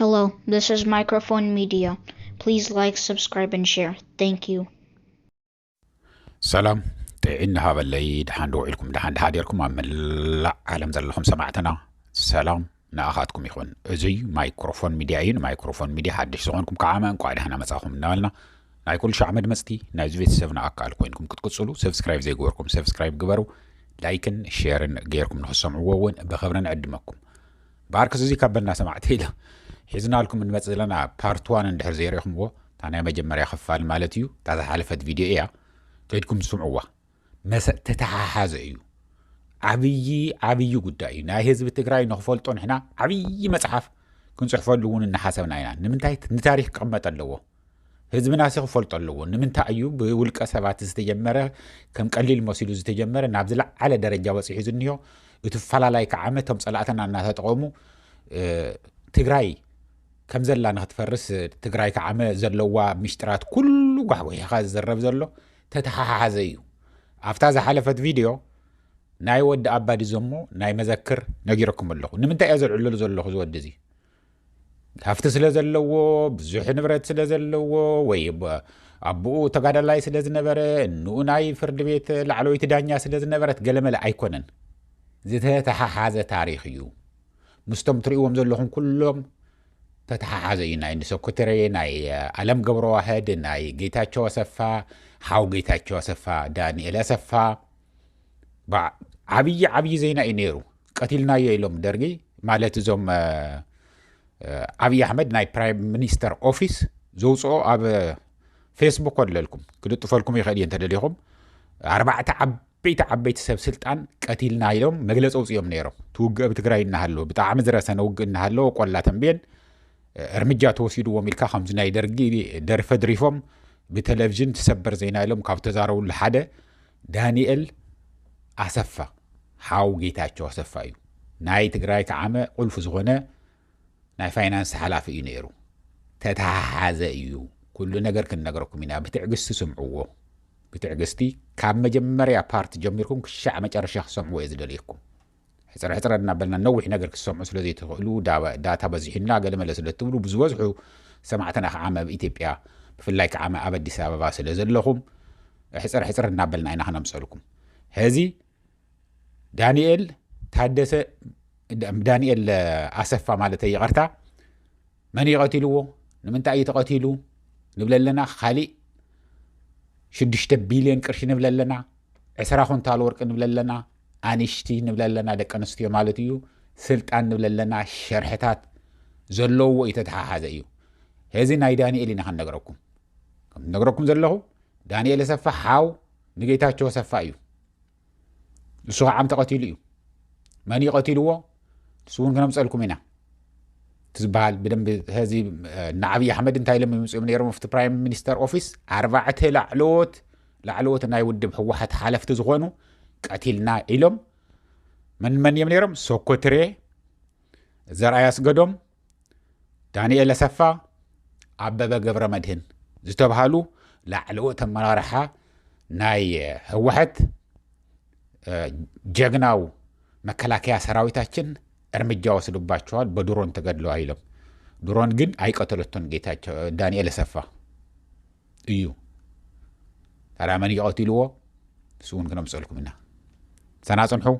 Hello, this is Microphone Media. Please like, subscribe, and share. Thank you. ሰላም ጥዒን ሃበለይ ድሓን ደውዒልኩም ድሓን ድሓዲርኩም ኣብ መላእ ዓለም ዘለኹም ሰማዕትና ሰላም ንኣኻትኩም ይኹን እዙይ ማይክሮፎን ሚድያ እዩ ንማይክሮፎን ሚድያ ሓድሽ ዝኾንኩም ከዓ እንኳዕ ድሓና መፃኹም እናበልና ናይ ኩሉ ሻዕ መድመጽቲ ናይዚ ቤተሰብና ኣካል ኮይንኩም ክትቅጽሉ ሰብስክራይብ ዘይገበርኩም ሰብስክራይብ ግበሩ ላይክን ሼርን ገይርኩም ንክትሰምዕዎ እውን ብክብሪ ንዕድመኩም ባርክስ እዚ ካብ በና ሰማዕቲ ኢለ ሒዝናልኩም እንመጽእ ዘለና ፓርት ዋን እንድሕር ዘይርኢኹምዎ እታ ናይ መጀመርያ ክፋል ማለት እዩ እታ ዝሓለፈት ቪድዮ እያ ከይድኩም ስምዕዋ መሰ ተተሓሓዘ እዩ ዓብዪ ዓብዪ ጉዳይ እዩ ናይ ህዝቢ ትግራይ ንክፈልጦ ንሕና ዓብዪ መፅሓፍ ክንፅሕፈሉ እውን እናሓሰብና ኢና ንምንታይ ንታሪክ ክቕመጥ ኣለዎ ህዝብና ሲ ክፈልጦ ኣለዎ ንምንታይ እዩ ብውልቀ ሰባት ዝተጀመረ ከም ቀሊል መሲሉ ዝተጀመረ ናብ ዝለዓለ ደረጃ በፂሑ ዝኒሆ እቲ ፈላላይ ከዓ እቶም ፀላእትና እናተጠቐሙ እ፣ ትግራይ ከም ዘላ ንክትፈርስ ትግራይ ከዓመ ዘለዋ ሚስጢራት ኩሉ ጓሕጒሕኻ ዝዝረብ ዘሎ ተተሓሓዘ እዩ ኣብታ ዝሓለፈት ቪድዮ ናይ ወዲ ኣባዲ ዘሞ ናይ መዘክር ነጊረኩም ኣለኹ ንምንታይ እየ ዘልዕለሉ ዘለኹ ዝወዲ እዚ ሃፍቲ ስለ ዘለዎ ብዙሕ ንብረት ስለ ዘለዎ ወይ ኣቦኡ ተጋዳላይ ስለ ዝነበረ እንኡ ናይ ፍርዲ ቤት ላዕለወይቲ ዳኛ ስለ ዝነበረት ገለመለ ኣይኮነን ዝተተሓሓዘ ታሪክ እዩ ምስቶም ትርእዎም ዘለኹም ኩሎም ተተሓሓዘ እዩ ናይ ንሰኩትሬ ናይ ኣለም ገብረዋህድ ናይ ጌታቸው ኣሰፋ ሓው ጌታቸው ኣሰፋ ዳንኤል ኣሰፋ በ- ዓብዪ ዓብዪ ዜና እዩ ነይሩ ቀቲልናዮ ኢሎም ደርጊ ማለት እዞም እ፣ እ፣ ዓብዪ ኣሕመድ ናይ ፕራይም ሚኒስተር ኦፊስ ዘውፅኦ ኣብ ፌስቡክ ኣለልኩም ክልጥፈልኩም ይኽእል እየ እንተደሊኹም ኣርባዕተ ዓብ ዓበይቲ ዓበይቲ ሰብ ስልጣን ቀቲልና ኢሎም መግለፂ ኣውፅኦም ነይሮም። እቲ ውግእ ኣብ ትግራይ እናሃለወ ብጣዕሚ ዝረሰነ ውግእ እናሃለወ ቆላ ተንቤን እርምጃ ተወሲድዎም ኢልካ ከምዚ ናይ ደርጊ ደርፈ ድሪፎም ብቴሌቭዥን ትሰበር ዜና ኢሎም ካብ ተዛረብሉ ሓደ ዳንኤል ኣሰፋ ሓው ጌታቸው ኣሰፋ እዩ ናይ ትግራይ ከዓመ ቁልፊ ዝኾነ ናይ ፋይናንስ ሓላፊ እዩ ነይሩ። ተተሓሓዘ እዩ። ኩሉ ነገር ክንነግረኩም ኢና ብትዕግስቲ ስምዕዎ ብትዕግስቲ ካብ መጀመርያ ፓርት ጀሚርኩም ክሻዕ መጨረሻ ክትሰምዕዎ እየ ዝደልየኩም ሕፅረሕፅረ እናበልና ነዊሕ ነገር ክትሰምዑ ስለ ዘይትኽእሉ ዳታ በዚሑና ገለመለ ስለ እትብሉ ብዝበዝሑ ሰማዕትና ከዓ መብ ኢትዮጵያ ብፍላይ ከዓ መኣብ ኣዲስ ኣበባ ስለ ዘለኹም ሕፅር ሕፅር እናበልና ኢና ክነምፀልኩም ሕዚ ዳንኤል ታደሰ ዳንኤል ኣሰፋ ማለት ይቐርታ መን እዩ ቀቲልዎ ንምንታይ እዩ ተቐቲሉ ንብለ ኣለና ካሊእ ሽዱሽተ ቢልዮን ቅርሺ ንብለ ኣለና ዕስራ ኩንታል ወርቂ ንብለ ኣለና ኣንሽቲ ንብለ ኣለና ደቂ ኣንስትዮ ማለት እዩ ስልጣን ንብለ ኣለና ሸርሕታት ዘለዎ እዩ ተተሓሓዘ እዩ እዚ ናይ ዳንኤል ኢና ክንነግረኩም ከም ነገረኩም ዘለኹ ዳንኤል ኣሰፋ ሓው ንጌታቸው ኣሰፋ እዩ ንሱ ከዓ ዓም ተቐቲሉ እዩ መን ይቐቲልዎ ንሱ እውን ክነምፀልኩም ኢና ዝበሃል ብደንብ ዚ ንዓብዪ ኣሕመድ እንታይ ኢሎም ይምፅኦም ነይሮም ኣብቲ ፕራይም ሚኒስተር ኦፊስ ኣርባዕተ ላዕለዎት ላዕለዎት ናይ ውድብ ህወሓት ሓለፍቲ ዝኾኑ ቀቲልና ኢሎም መን መን እዮም ነይሮም ሶኮትሬ ዘርኣይ ኣስገዶም ዳንኤል ኣሰፋ፣ ኣበበ ገብረመድህን ዝተብሃሉ ላዕለዎት ኣመራርሓ ናይ ህወሓት ጀግናው መከላከያ ሰራዊታችን እርምጃ ወስዱባቸዋል በድሮን ተገድለዋል ኢሎም ድሮን ግን ኣይቀተለቶን ጌታቸው ዳንኤል ኣሰፋ እዩ ታዲያ መን እዩ ቀቲልዎ ንሱ እውን ክነምፀልኩም ኢና ሰና ፅንሑ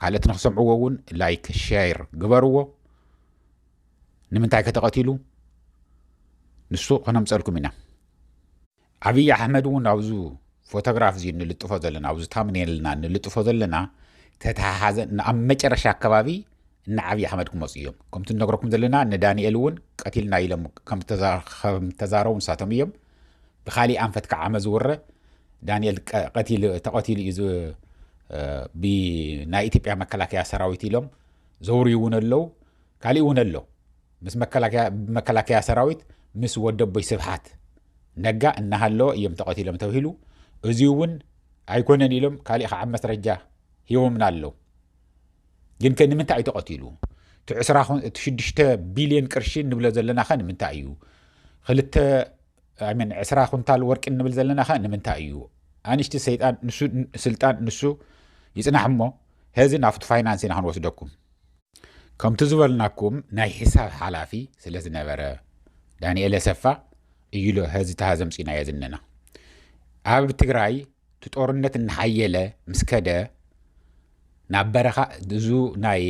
ካልእት ንክሰምዕዎ እውን ላይክ ሸር ግበርዎ ንምንታይ ከተቐቲሉ ንሱ ክነምፀልኩም ኢና ኣብዪ ኣሕመድ እውን ኣብዚ ፎቶግራፍ እዚ ንልጥፎ ዘለና ኣብዚ ታምኔልና ንልጥፎ ዘለና ተተሓሓዘ ኣብ መጨረሻ ኣከባቢ እነ ዓብይ ኣሕመድ ክመፁ እዮም ከምቲ ንነግረኩም ዘለና እነ ዳንኤል እውን ቀቲልና ኢሎም ከምተዛረቡ ንሳቶም እዮም ብካሊእ ኣንፈት ከዓ ዓመ ዝውረ ዳንኤል ተቐቲሉ እዩ ብናይ ኢትዮጵያ መከላከያ ሰራዊት ኢሎም ዘውርዩ እውን ኣለው ካሊእ እውን ኣሎ ምስ መከላከያ ሰራዊት ምስ ወደቦይ ስብሓት ነጋ እናሃለወ እዮም ተቐቲሎም ተብሂሉ እዚ እውን ኣይኮነን ኢሎም ካሊእ ከዓ መስረጃ ሂቦምና ኣለው ግን ከ ንምንታይ እዩ ተቐቲሉ እቲ ዕስራ እቲ ሽዱሽተ ቢልዮን ቅርሺ ንብሎ ዘለና ከ ንምንታይ እዩ ክልተ ኣይመን ዕስራ ኩንታል ወርቂ ንብል ዘለና ከ ንምንታይ እዩ ኣንሽቲ ሰይጣን ንሱ ስልጣን ንሱ ይጽናሕ እሞ ሄዚ ናብቲ ፋይናንስ ኢና ክንወስደኩም ከምቲ ዝበልናኩም ናይ ሒሳብ ሓላፊ ስለ ዝነበረ ዳንኤል ኣሰፋ እዩሎ ሀዚ ተሃዘምፂናዮ ዝነና ኣብ ትግራይ እቲ ጦርነት እናሓየለ ምስ ከደ ናብ በረኻ እዙ ናይ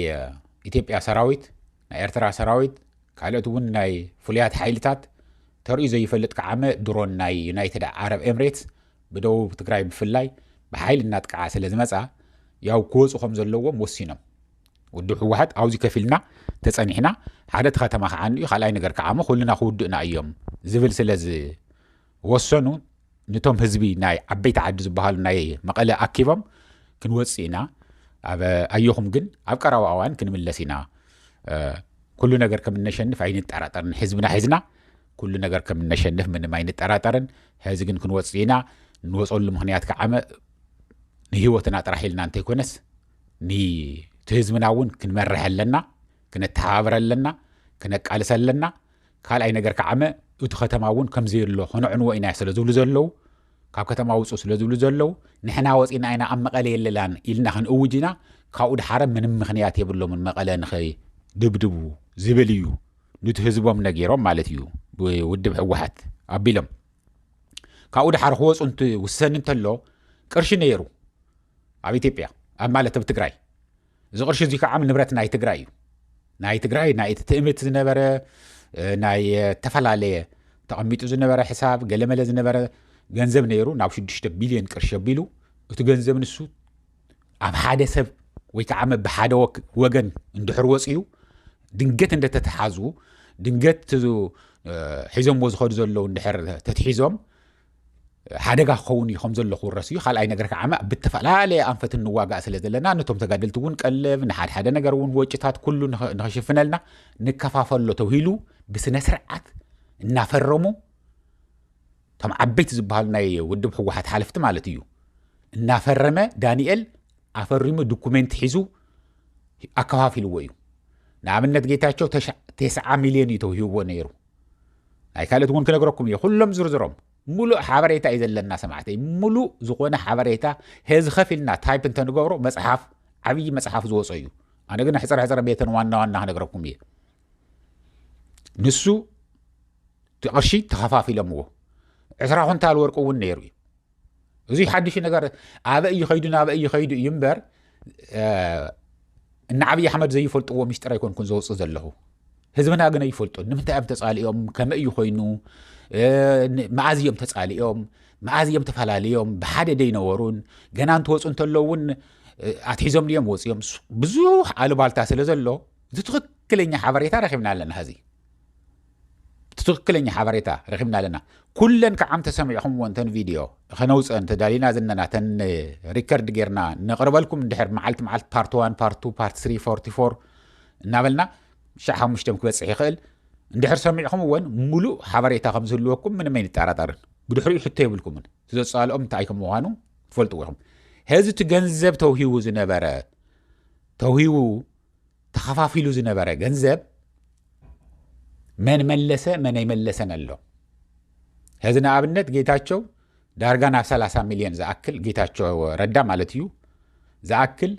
ኢትዮጵያ ሰራዊት ናይ ኤርትራ ሰራዊት ካልኦት እውን ናይ ፍሉያት ሓይልታት ተርእዩ ዘይፈልጥ ከዓመ ድሮን ናይ ዩናይትድ ዓረብ ኤምሬትስ ብደቡብ ትግራይ ብፍላይ ብሓይሊ እናጥቅዓ ስለ ዝመፃ ያው ክወፁ ከም ዘለዎም ወሲኖም ውድብ ህወሓት ኣብዚ ከፍ ኢልና ተፀኒሕና ሓደ እቲ ከተማ ከዓንኡ ካልኣይ ነገር ከዓሞ ኩልና ክውድእና እዮም ዝብል ስለ ዝወሰኑ ነቶም ህዝቢ ናይ ዓበይቲ ዓዲ ዝበሃሉ ናይ መቐለ ኣኪቦም ክንወፅእ ኢና ኣየኹም ግን ኣብ ቀረባ እዋን ክንምለስ ኢና ኩሉ ነገር ከም እነሸንፍ ኣይንጠራጠርን ህዝብና ሒዝና ኩሉ ነገር ከም እነሸንፍ ምንም ኣይንጠራጠርን ሕዚ ግን ክንወፅእ ኢና ንወፀሉ ምክንያት ከዓመ ንህይወትና ጥራሕ ኢልና እንተይኮነስ ንህዝብና እውን ክንመርሕ ኣለና ክነተሓባብረ ኣለና ክነቃልሰ ኣለና ካልኣይ ነገር ከዓመ እቱ ከተማ እውን ከምዘየሎ ከነዕንዎ ኢና ስለ ዝብሉ ዘለው ካብ ከተማ ውፁ ስለ ዝብሉ ዘለው ንሕና ወፂና ኢና ኣብ መቐለ የለላን ኢልና ክንእውጅ ኢና ካብኡ ድሓረ ምንም ምክንያት የብሎምን መቐለ ንኸይድብድቡ ዝብል እዩ ኑቲ ህዝቦም ነጊሮም ማለት እዩ ብውድብ ሕወሓት ኣቢሎም ካብኡ ድሓር ክወፁ ውሰን እንተሎ ቅርሺ ነይሩ ኣብ ኢትዮጵያ ኣብ ማለት ኣብ ትግራይ እዚ ቅርሺ እዙይ ከዓ ንብረት ናይ ትግራይ እዩ ናይ ትግራይ ናይ እቲ ትእምት ዝነበረ ናይ ተፈላለየ ተቐሚጡ ዝነበረ ሕሳብ ገለመለ ዝነበረ ገንዘብ ነይሩ ናብ 6 ቢልዮን ቅርሺ ኣቢሉ እቲ ገንዘብ ንሱ ኣብ ሓደ ሰብ ወይ ከዓ ብሓደ ወገን እንድሕር ወፅኡ ድንገት እንደተተሓዙ ድንገት ሒዞምዎ ዝኸዱ ዘለዉ እንድሕር ተትሒዞም ሓደጋ ክኸውን እዩ ከምዘሎ ክውረስ እዩ ካልኣይ ነገር ከዓ ብተፈላለየ ኣንፈት ንዋጋእ ስለ ዘለና ነቶም ተጋደልቲ እውን ቀልብ ንሓደሓደ ነገር እውን ወጭታት ኩሉ ንክሽፍነልና ንከፋፈሎ ተብሂሉ ብስነ ስርዓት እናፈረሙ እቶም ዓበይቲ ዝበሃሉ ናይ ውድብ ህወሓት ሓለፍቲ ማለት እዩ እናፈረመ ዳንኤል ኣፈሪሙ ዶኩሜንት ሒዙ ኣከፋፊልዎ እዩ ንኣብነት ጌታቸው ተስዓ ሚልዮን እዩ ተውሂብዎ ነይሩ ናይ ካልኦት እውን ክነግረኩም እየ ኩሎም ዝርዝሮም ሙሉእ ሓበሬታ እዩ ዘለና ሰማዕተይ ሙሉእ ዝኾነ ሓበሬታ ሄዚ ከፍ ኢልና ታይፕ እንተንገብሮ መፅሓፍ ዓብዪ መፅሓፍ ዝወፆ እዩ ኣነ ግን ሕፅረ ሕፅረ ቤተን ዋና ዋና ክነግረኩም እየ ንሱ እቲ ቅርሺ ተኸፋፊሎምዎ ዕስራ ኩንታል ወርቂ እውን ነይሩ እዩ እዙይ ሓድሽ ነገር ኣበይ ይኸይዱ ናበይ ይኸይዱ እዩ እምበር ንዓብዪ ኣሕመድ ዘይፈልጥዎ ሚስጢር ኣይኮንኩን ዘውፅእ ዘለኹ ህዝብና ግን ኣይፈልጡ ንምንታይ እዮም ተፃሊኦም ከመይ እዩ ኮይኑ መኣዝ እዮም ተፃሊኦም መኣዝ እዮም ተፈላለዮም ብሓደ ደይነበሩን ገና እንትወፁ እንተለዉ እውን ኣትሒዞም ድዮም ወፅዮም ብዙሕ ኣሉባልታ ስለ ዘሎ እቲ ትኽክለኛ ሓበሬታ ረኪብና ኣለና ሀዚ እቲ ትክክለኛ ሓበሬታ ረኪብና ኣለና ኩለን ክዓም ተሰሚዕኹምዎን ተን ቪድዮ ከነውፅአን ተዳሊና ዝነና ተን ሪከርድ ጌርና ነቅርበልኩም እንድሕር መዓልቲ መዓልቲ ፓርት ዋን ፓርት ቱ ፓርት ስሪ ፎርቲ ፎር እናበልና ሻዕ ሓሙሽተ ክበፅሕ ይኽእል እንድሕር ሰሚዕኹምዎን ሙሉእ ሓበሬታ ከም ዝህልወኩም ምንም ኣይንጠራጠርን ብድሕሪኡ ሕቶ የብልኩምን ዘፃልኦም እንታይ ከም ምዃኑ ትፈልጥዎ ኢኹም ሕዚ እቲ ገንዘብ ተውሂቡ ዝነበረ ተውሂቡ ተኸፋፊሉ ዝነበረ ገንዘብ መን መለሰ መን ኣይመለሰን ኣሎ ሕዚ ንኣብነት ጌታቸው ዳርጋ ናብ 30 ሚልዮን ዝኣክል ጌታቸው ረዳ ማለት እዩ ዝኣክል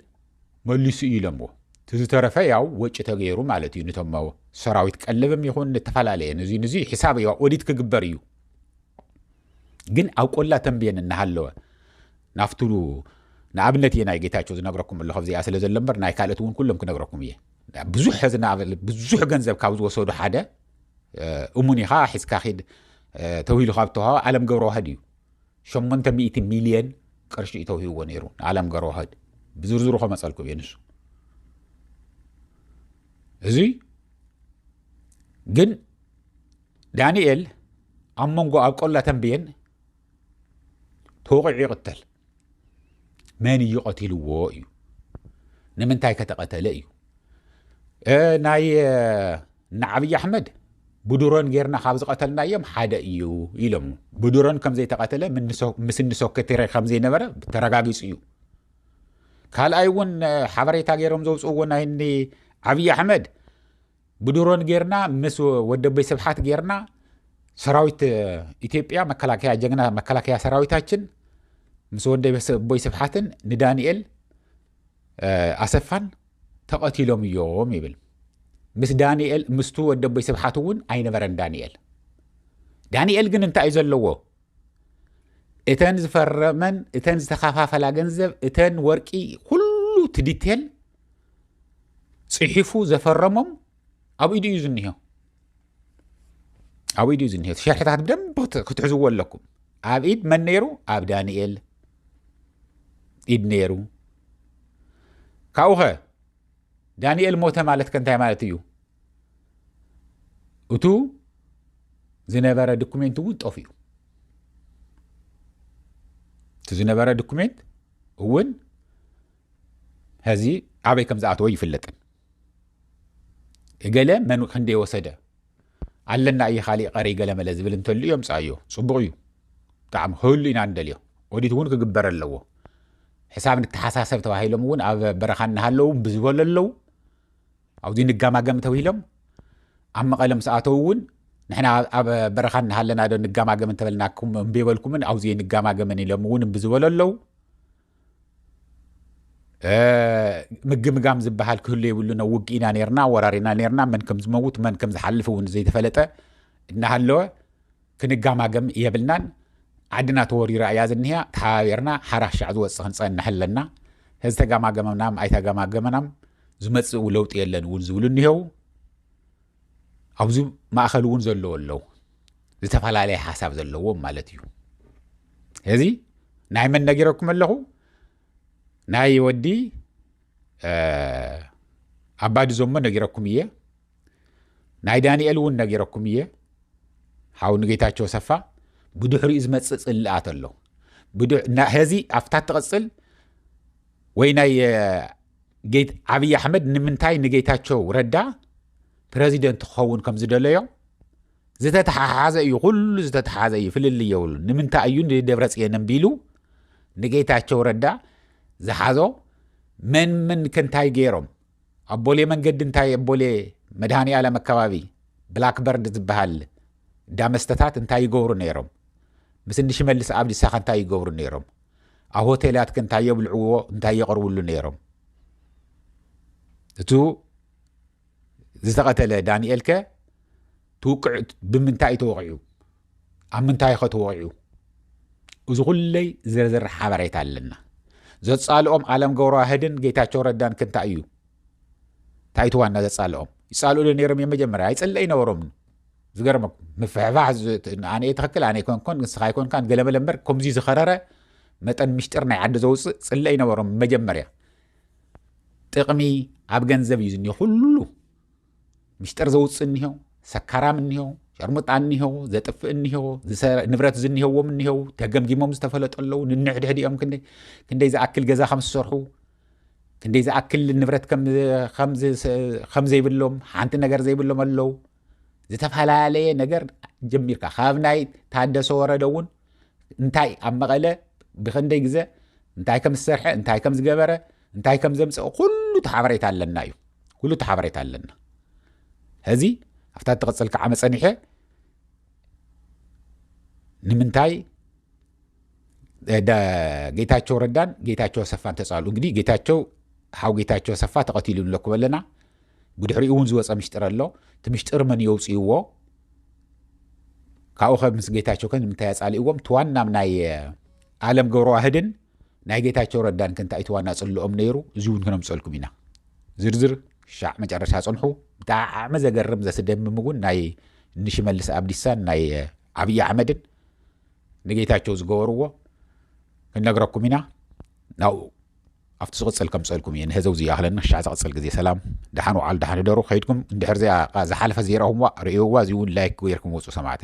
መሊሱ እዩ ኢሎምዎ እቲ ዝተረፈ ያው ወጪ ተገይሩ ማለት እዩ ንቶም ሰራዊት ቀለብም ይኹን ንተፈላለየ ንዙ ንዙ ሒሳብ ኦዲት ክግበር እዩ ግን ኣብ ቆላ ተንብየን እናሃለወ ናፍቱ ንኣብነት እየ ናይ ጌታቸው ዝነግረኩም ኣለኹ ኣብዚኣ ስለ ዘሎ እምበር ናይ ካልኦት እውን ኩሎም ክነግረኩም እየ ብዙሕ ሕዚ ንኣብነት ብዙሕ ገንዘብ ካብ ዝወሰዱ ሓደ እሙን ኢኻ ሒዝካ ኪድ ተውሂሉ ካብ ተዋሃ ዓለም ገብረዋህድ እዩ ሸሞንተ ሚእቲ ሚልየን ቅርሺ እዩ ተውሂብዎ ነይሩ ንዓለም ገብረዋህድ ብዝርዝሩ ከመፀልኩም እየ ንሱ እዚ ግን ዳንኤል ኣብ መንጎ ኣብ ቆላ ተንብየን ተወቒዑ ይቕተል መን እዩ ቀቲልዎ እዩ ንምንታይ ከተቐተለ እዩ ናይ ንዓብዪ ኣሕመድ ብድሮን ጌርና ካብ ዝቐተልናዮም ሓደ እዩ ኢሎም ብድሮን ከም ዘይተቐተለ ምስ እንሶከቴረ ከም ዘይነበረ ተረጋጊፁ እዩ ካልኣይ እውን ሓበሬታ ገይሮም ዘውፅእዎ ናይ ዓብዪ ኣሕመድ ብድሮን ጌርና ምስ ወደበይ ስብሓት ጌርና ሰራዊት ኢትዮጵያ መከላከያ ጀግና መከላከያ ሰራዊታችን ምስ ወደቦይ ስብሓትን ንዳንኤል ኣሰፋን ተቐቲሎም እዮም ይብል ምስ ዳንኤል ምስቱ ወደቦይ ስብሓት እውን ኣይነበረን ዳንኤል ዳንኤል ግን እንታይ እዩ ዘለዎ እተን ዝፈረመን እተን ዝተኸፋፈላ ገንዘብ እተን ወርቂ ኩሉ ትዲቴል ፅሒፉ ዘፈረሞም ኣብ ኢዱ እዩ ዝኒሆ ኣብ ኢዱ እዩ ዝኒሆ ሸርሕታት ብደንብ ክትሕዝዎ ኣለኩም ኣብ ኢድ መን ነይሩ ኣብ ዳንኤል ኢድ ነይሩ ካብኡ ኸ ዳንኤል ሞተ ማለት ከ እንታይ ማለት እዩ እቱ ዝነበረ ዶኩሜንት እውን ጠፍ እዩ እቲ ዝነበረ ዶኩሜንት እውን ሀዚ ኣበይ ከም ዝኣተወ ይፍለጥን እገለ መን ክንደይ ወሰደ ኣለና እየ ካሊእ ቀረይ ገለመለ ዝብል እንተሉ የምፅኣዮ ፅቡቅ እዩ ብጣዕሚ ክህሉ ኢና ንደልዮ ኦዲት እውን ክግበር ኣለዎ ሕሳብ ንተሓሳሰብ ተባሂሎም እውን ኣብ በረኻ እናሃለዉ ብዝበሉ ኣለዉ ኣብዚ ንጋማገም ተብሂሎም ኣብ መቐለ ምስ ኣተው እውን ንሕና ኣብ በረኻ እናሃለና ዶ ንጋማገም እንተበልናኩም እምቤበልኩምን ኣብዚ ንጋማገምን ኢሎም እውን ብዝበሉ ኣለዉ ምግምጋም ዝበሃል ክህሉ የብሉን ኣብ ውግእ ኢና ነርና ወራሪና ነርና መን ከም ዝመውት መን ከም ዝሓልፍ እውን ዘይተፈለጠ እናሃለወ ክንጋማገም የብልናን ዓድና ተወሪራ እያ ዝኒሃ ተሓባቢርና ሓራሻዕ ዝወፅእ ክንፀንሕ ኣለና እዚ ተጋማገመናም ኣይተጋማገመናም ዝመፅእ ለውጢ የለን እውን ዝብሉ እኒሄው ኣብዚ ማእኸል እውን ዘለዎ ኣለው ዝተፈላለየ ሓሳብ ዘለዎም ማለት እዩ እዚ ናይ መን ነጊረኩም ኣለኹ ናይ ወዲ ኣባዲ ዘሞ ነጊረኩም እየ ናይ ዳንኤል እውን ነጊረኩም እየ ሓው ንጌታቸው ሰፋ ብድሕሪኡ ዝመፅእ ፅልኣት ኣሎ ዚ ኣብታ ትቕፅል ወይ ናይ ዓብዪ ኣሕመድ ንምንታይ ንጌታቸው ረዳ ፕረዚደንት ክኸውን ከም ዝደለዮ ዝተተሓሓዘ እዩ ኩሉ ዝተተሓዘ እዩ ፍልል የብሉ ንምንታይ እዩ ንደብረ ፅየን ቢሉ ንጌታቸው ረዳ ዝሓዞ መን ምን ክንታይ ገይሮም ኣብ ቦሌ መንገዲ እንታይ ኣብ ቦሌ መድሃኒ ዓለም ኣካባቢ ብላክበርድ ዝበሃል ዳመስተታት እንታይ ይገብሩ ነይሮም ምስ ንሽመልስ ኣብዲሳ ከ እንታይ ይገብሩ ነይሮም ኣብ ሆቴላት ከ እንታይ የብልዕዎ እንታይ የቕርብሉ ነይሮም እቱ ዝተቐተለ ዳንኤል ከ ትውቅዕ ብምንታይ ተወቂዑ ኣብ ምንታይ ኸ ተወቂዑ እዚ ኩለይ ዝርዝር ሓበሬታ ኣለና ዘፃልኦም ኣለም ገብረዋህድን ጌታቸው ረዳን ክንታይ እዩ ታይትዋ እና ዘጻልኦም ይጻልኡ ዶ ነይሮም እዮም መጀመርያ ኣይጽለ ኣይነበሮም ዝገርመኩም ምፍሕፋሕ ኣነ ትኽክል ኣነ ኮንኮን ንስኻ ኣይኮንካን ገለመለ እምበር ከምዚ ዝኸረረ መጠን ምሽጢር ናይ ዓዲ ዘውፅእ ጽለ ኣይነበሮም መጀመርያ ጥቕሚ ኣብ ገንዘብ እዩ ዝኒሆ ኩሉ ምሽጢር ዘውፅእ እኒሆ ሰካራም እኒሆ ሸርሙጣ እኒሆ ዘጥፍእ እኒሆ ንብረት ዝኒሄዎም እኒሄው ተገምጊሞም ዝተፈለጡ ኣለዉ ንንሕድሕድ እዮም ክንደይ ዝኣክል ገዛ ከም ዝሰርሑ ክንደይ ዝኣክል ንብረት ከም ዘይብሎም ሓንቲ ነገር ዘይብሎም ኣለው ዝተፈላለየ ነገር ጀሚርካ ካብ ናይ ታደሰ ወረደ እውን እንታይ ኣብ መቐለ ብክንደይ ግዘ እንታይ ከም ዝሰርሐ እንታይ ከም ዝገበረ እንታይ ከም ዘምፀኦ ኩሉ ተሓበሬታ ኣለና እዩ ኩሉ ተሓበሬታ ኣለና ሕዚ ኣብታ እትቕፅል ከዓ መፀኒሐ ንምንታይ ጌታቸው ረዳን ጌታቸው ኣሰፋን ተፃሉ እንግዲህ ጌታቸው ሓው ጌታቸው ኣሰፋ ተቐቲሉ ኣሎ ክበለና ብድሕሪኡ እውን ዝወፀ ምሽጥር ኣሎ እቲ ምሽጥር መን የውፅእዎ ካብኡ ከ ምስ ጌታቸው ከ ንምንታይ ኣፃሊእዎም እቲ ዋና ናይ ኣለም ገብረዋህድን ናይ ጌታቸው ረዳን ከ እንታይ እቲ ዋና ፅልኦም ነይሩ እዚ እውን ክነምፀልኩም ኢና ዝርዝር ሻዕ መጨረሻ ፅንሑ ብጣዕሚ ዘገርም ዘስደምም እውን ናይ ንሽመልስ ኣብዲሳን ናይ ዓብዪ ኣሕመድን ንጌታቸው ዝገበርዎ ክንነግረኩም ኢና ናብኡ ኣብቲ ዝቕፅል ከምፀልኩም እየ ንህዘው ዝይኣኽለና ሻዕ ዝቕፅል ግዜ ሰላም ድሓን ውዓል ድሓን ህደሩ ከይድኩም እንድሕር ዚኣ ዝሓለፈ ዘይረኹምዋ ርእዮዋ እዚ እውን ላይክ ገይርኩም ወፁ ሰማዕቲ